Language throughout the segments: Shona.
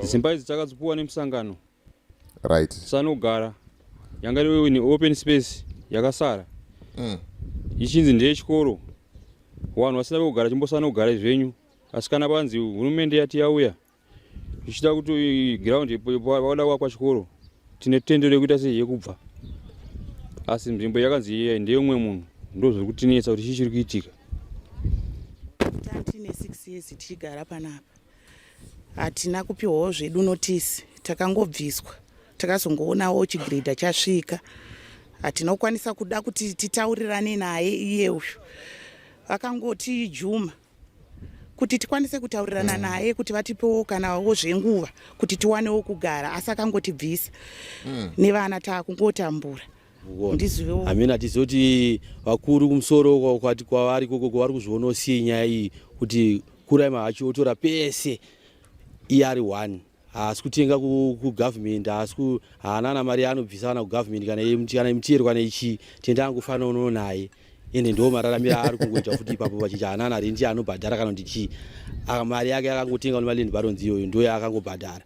Dzimba idzi takadzipuwa nemusangano. Right. Sanogara yanga iri ne open space yakasara. Mm. Ichinzi ndeye chikoro. Wanhu wasina kugara chimbosana kugara zvenyu. Asi kana panzi hurumende yati yauya ichida kuti ground yakwada kwa chikoro tine tendo rekuita sei yekubva. Asi nzvimbo yakanzi iye ndeye umwe munhu ndozviri kutinetsa kuti chii chiri kuitika. Tati ne 6 years tichigara panapa. hatina kupiwawo zvedu notisi takangobviswa takazongoonawo chigredha chasvika hatina kukwanisa kuda kuti titaurirane naye iye uyu vakangoti juma kuti tikwanise kutaurirana mm. naye kuti vatipewo kanawo zvenguva kuti tiwanewo kugara asi akangotibvisa mm. nevana taakungotambura hamina tizive kuti vakuru kumusoro kwati kwavari koko kwavari kuzviona usiye nyaya iyi kuti kurai mahachi otora pese iye ari one haasi kutenga kugovernment haasi haana na mari yaanobvisa kana kugovernment kana imutiyero kana ichii tenda angofanira unono naye ende ndo mararamiro aari kungoita futi ipapo vachiti haana na rendi yaanobhadhara kana kuti chii mari yake akangotenga nemaland barons iyoyo ndo yaakangobhadhara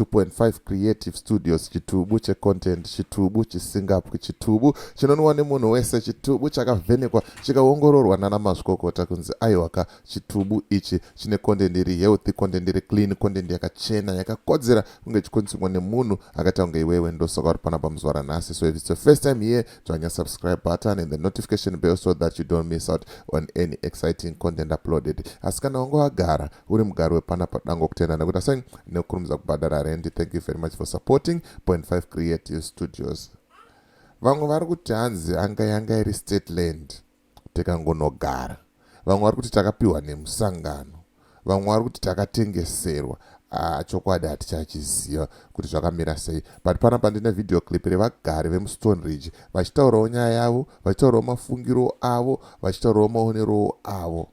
2.5 creative studios chitubu checontent chitubu chisingapwi chitubu chinonwa nemunhu wese chitubu chakavhenekwa chikaongororwa nana mazvikokota kunzi aiwaka chitubu ichi chine content iri healthy content iri clean content yakachena yakakodzera kunge ichikonsumwa nemunhu akaita kunge iwewe ndosoka uri pana pamuzuva ranhasi so if it's your first time here dzvanya subscribe button and the notification bell so that you don't miss out on any exciting content uploaded asi kana wange wagara uri mugari wepana padango kutenda nekuita sei nekukurumidza kubhadhara rendi thank you very much for supporting point 5 creative studios vamwe vari kuti hanzi anga yanga iri state land tikangonogara vamwe vari kuti takapiwa nemusangano vamwe vari kuti takatengeserwa ah, chokwadi hatichachiziva kuti zvakamira sei but panapa ndine video clip revagari vemustone ridge vachitaurawo nyaya yavo vachitaurawo mafungiro avo vachitaurawo maonerowo avo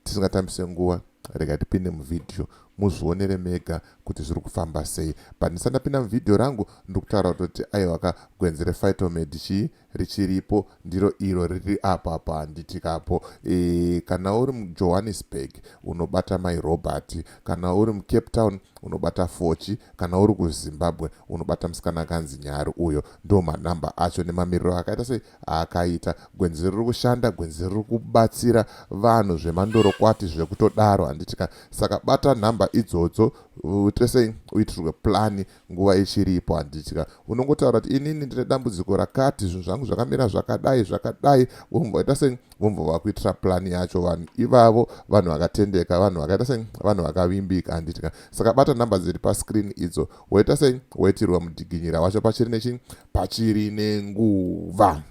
tisingatambise nguva rega tipinde muvhidhiyo muzvionere mega kuti zviri kufamba sei but ndisati ndapinda muvhidhiyo rangu ndiri kutaura kutoti aiwa ka gwenzi refitomedi chii richiripo ndiro iro riri apo apo handitikapo e, eh, kana uri mujohannesburg unobata mai robert kana uri mucape town unobata fochi kana uri kuzimbabwe unobata musikana akanzi nyari uyo ndo manhamba acho nemamiriro akaita sei akaita gwenzi riri kushanda gwenzi riri kubatsira vanhu zvemandorokwati zvekutodaro handiti ka saka bata nhamba idzodzo uite sei uitirwe plani nguva ichiripo handiti ka unongotaura kuti inini ndine dambudziko rakati zvinhu zvangu zvakamira zvakadai zvakadai vomboita sei vombo vakuitira plani yacho vanhu ivavo vanhu vakatendeka vanhu vakaita sei vanhu vakavimbika handiti ka saka bata nhamba dziri pascreen idzo woita sei woitirwa mudiginyira wacho pachiri nechi pachiri nenguva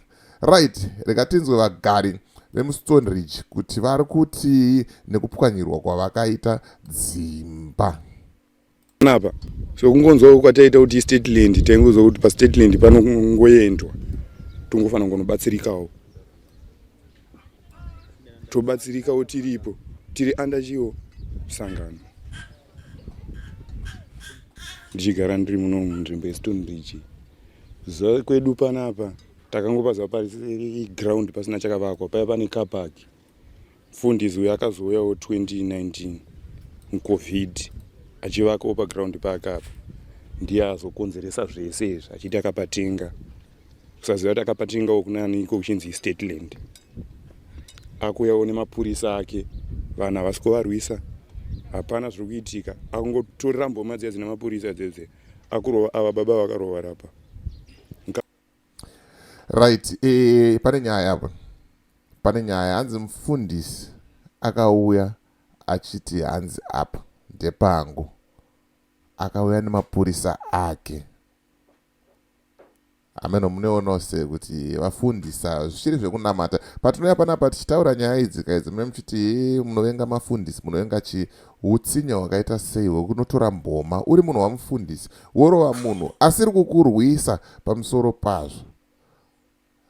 right rega tinzwe vagari vemuston ridge kuti vari kutii nekupwanyirwa kwavakaita dzimba napa so kungonzwa kwataita kuti stateland taingonzwa kuti pastateland panongoendwa tongofanira kunobatsirikawo tobatsirikawo tiripo tiri under chiwo sangano ndichigara ndiri muno munzvimbo yestone bridge zuva kwedu panapa takangopaziva pari ground pasina chakavakwa paya pane capark mfundisi uyo akazouyawo 2019 mucovid achivakawo paground paakapa ndiye azokonzeresa zvese izvi achiti akapatenga kusaziva kuti akapatingawo kunani iko kuchinzi stateland akuyawo nemapurisa ake vanhu havasi kuvarwisa hapana zviri kuitika akungotorera mboma dziya dzine mapurisa dzedze akurova ava baba vakarova rapa right e, pane nyaya apa pane nyaya hanzi mufundisi akauya achiti hanzi apa ndepangu akauya nemapurisa ake hameno muneonawo se kuti vafundisa zvichiri zvekunamata patinouya panapa tichitaura nyaya idzi kaidzi mune muchiti munovenga mafundisi munovenga chi utsinya hwakaita sei hwekunotora mboma uri munhu wamufundisi worova munhu asiri kukurwisa pamusoro pazvo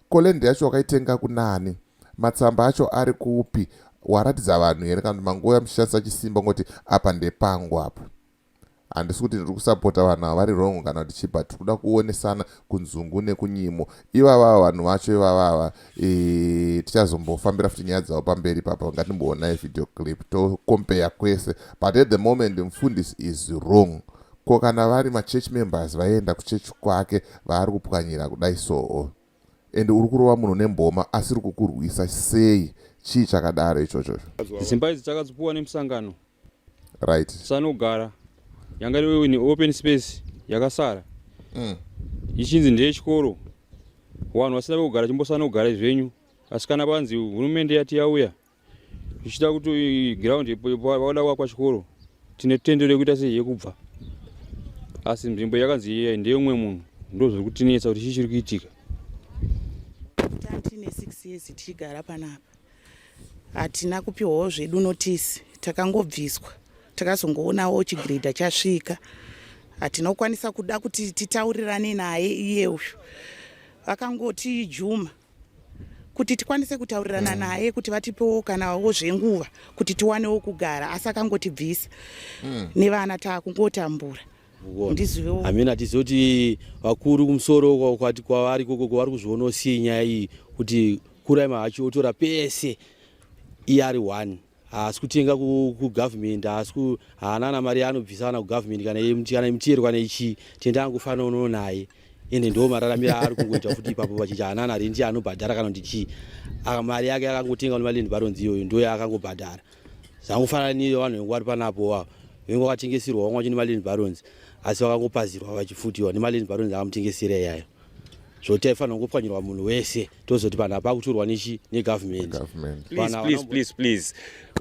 Ko land yacho wakaitenga kunani? Matsamba acho ari kupi? Waratidza vanhu here kana kuti mangouya muchishandisa chisimba kungoti apa ndepangu apa? Handisi kuti ndiri kusapota vanhu ava vari wrong kana kuti chii but tikuda kuonesana kunzungu nekunyimo. Ivava vanhu vacho ivavava e, tichazombofambira futi nyaya dzavo pamberi papa ngatimboonai video clip to compare kwese but at the moment mfundisi is wrong Ko kana vari machurch members vaienda kuchurch kwake vaari kupwanyira kudai soo and uri kurova munhu nemboma asiri kukurwisa sei chii chakadaro ichocho dzimba idzi takadzipuwa nemusangano right sanogara yanga iri ne open space yakasara mm. ichinzi ndeyechikoro vanhu vasina vekugara chimbosanogara zvenyu asi kana vanzi hurumende yati yauya zvichida kuti ground vada kuvakwa chikoro tine tendo rekuita sei yekubva asi nzvimbo yakanzi iyai ndeyomwe munhu ndozviri kutinetsa kuti chii chiri kuitika tatine six years tichigara panapa hatina kupiwawo zvedu notisi takangobviswa takazongoonawo chigredha chasvika hatina kukwanisa kuda kuti titaurirane naye iye uyu vakangoti juma kuti tikwanise kutaurirana mm. naye kuti vatipewo kanawo zvenguva kuti tiwanewo kugara asi akangotibvisa mm. nevana taakungotambura hamina tizive kuti vakuru kumusoro kwati kwavari koko kwavari kuzvionosei nyaya iyi kuti kuraima hachi otora pese iye ari one haasi kutenga kugovernment haasi haana na mari yaanobvisa ana kugovernment kana kana mutero kana ichi tenda angofana unono naye ende ndo mararamiro aari kungoita futi ipapo vachiti hanana rendi anobhadhara kana kuti chii mari yake akangotenga nemaland baronzi iyoyo ndo yaakangobhadhara zvangofanana niyo vanhu vengu vari panapo wavo vengu vakatengeserwa vamwe vacho nemaland baronzi asi vakangopazirwa vachifutiwa nemaland baronzi akamutengesera iyayo zvoti aifanira kungopwanyirwa munhu wese tozoti vanhu apa kuturwa nechi negovernment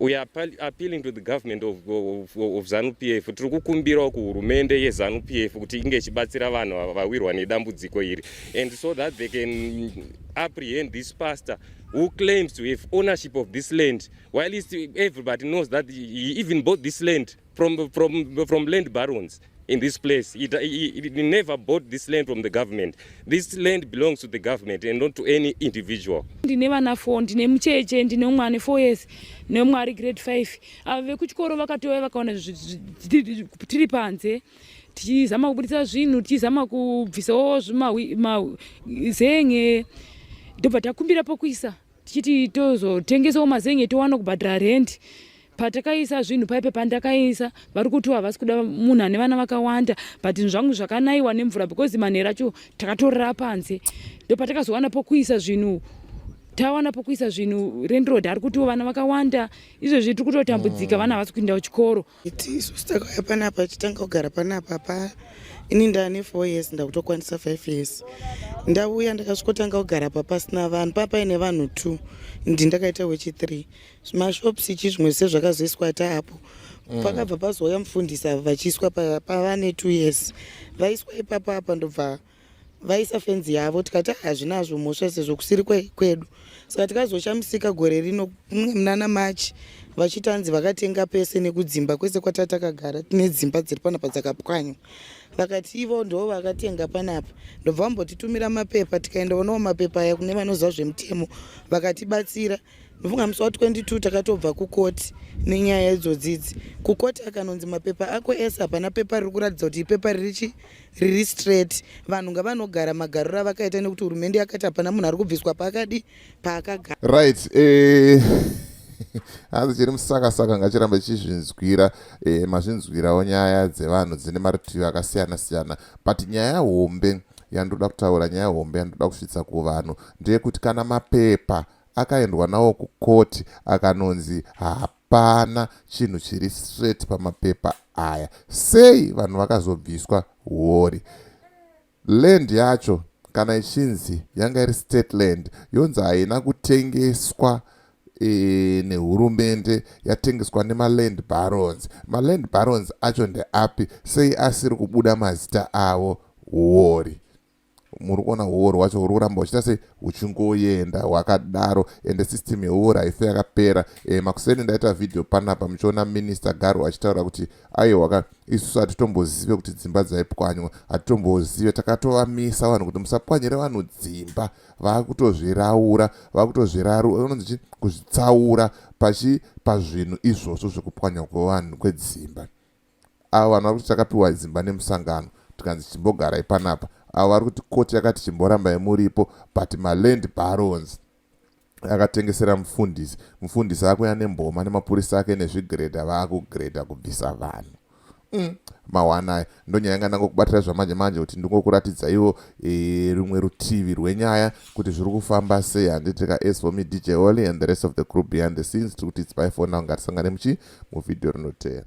we are appealing to the government of, of, of zanupf tiri kukumbirawo kuhurumende yezanupf kuti inge ichibatsira vanhu ava vawirwa nedambudziko iri and so that they can apprehend this pastor who claims to have ownership of this land while everybody knows that he even bought this land from, from, from land barons in this place. It, it, it never bought this land from the government. This land belongs to the government and not to any individual. Ndine vana 4, ndine mucheche, ndine umwe ane 4 years, neumwe ari grade 5. Ava vekuchikoro vakatouya vakaona tiri panze tichizama kubudisa zvinhu tichizama kubvisawo zven'e ndobva takumbira pokuisa tichiti tozotengesawo mazenge towana kubhadhara rendi patakaisa zvinhu paipe pandakaisa vari kuti havasi kuda munhu ane vana vakawanda but zvinhu zvangu zvakanaiwa nemvura because manhero acho takatorera panze ndo patakazowana pokuisa zvinhu tawana pokuisa zvinhu renroad ari kutiwo vana vakawanda izvezvi tiri kutotambudzika mm. vana havasi kuinda kuchikoro Iti isu takauya panapa tichitanga kugara panapa pa ini ndane four years ndakutokwanisa five years ndauya ndakasvikotanga kugara pa pasina vanhu papaine vanhu two ndi ndakaita wechi three mashops ichi zvimwe zvise zvakazoiswa taapo mm. pakabva pazouya mufundisi avo vachiiswa pavane two years vaiswa ipapa apa ndobva pa vaisa fenzi yavo tikati ah, hazvinazvo mhosva sezvo kusiri kwedu saka tikazoshamisika gore rino mnana machi vachitanzi vakatenga pese nekudzimba kwese kwata takagara tine dzimba dziri panapa dzakapwanywa vakati ivo ndoo vakatenga panapa ndobva vambotitumira mapepa tikaenda onawo mapepa aya kune vanoziva zvemutemo vakatibatsira ndofunga musi wa 22 takatobva kukoti nenyaya idzodzidzi kukoti akanonzi mapepa ako ese hapana pepa riri kuratidza kuti ipepa ririchi riri straight vanhu ngavanogara magariro avakaita nekuti hurumende yakati hapana munhu ari kubviswa paakadi paakagara right eh, hanzi chiri musakasaka ngachiramba chizvinzwira eh, mazvinzwirawo nyaya dzevanhu dzine marutivi akasiyana siyana but nyaya hombe yandoda kutaura nyaya hombe yandoda kusvitsa kuvanhu ndeyekuti kana mapepa akaendwa nawo kucourt akanonzi hapana chinhu chiri straight pamapepa aya sei vanhu vakazobviswa huori land yacho kana ichinzi yanga iri state land yonzi haina kutengeswa e, nehurumende yatengeswa nemaland barons maland barons acho ndeapi sei asiri kubuda mazita avo huori muri kuona huori hwacho huri kuramba huchiita sei huchingoenda hwakadaro ende system yehuori haife yakapera e, makuseni ndaita vhidhiyo panapa muchiona minista garo achitaura kuti aiwa ka isusu hatitombozive kuti dzimba dzaipwanywa hatitombozive takatovamisa vanhu kuti musapwanyire vanhu dzimba vakutozviraura vakutozviraura unonzi chi kuzvitsaura pachi pazvinhu izvozvo zvekupwanywa kwevanhu kwedzimba avo vanova kuti takapiwa dzimba nemusangano tikanzi chimbogarai panapa avo vari kuti koti yakati chimborambai muripo but maland barons akatengesera mufundisi mufundisi akuya nemboma nemapurisa ake nezvigreda vaakugreda kubvisa vanhu mm, mawanaya ndonyaya yanga ndangokubatira zvamanje manje kuti ndingokuratidza ivo e, rumwe rutivi rwenyaya kuti zviri kufamba sei handitika as for me dj oly and the rest of the group behind the scenes tiri kuti its by fo now ngatisangane muchi muvideo rinoteera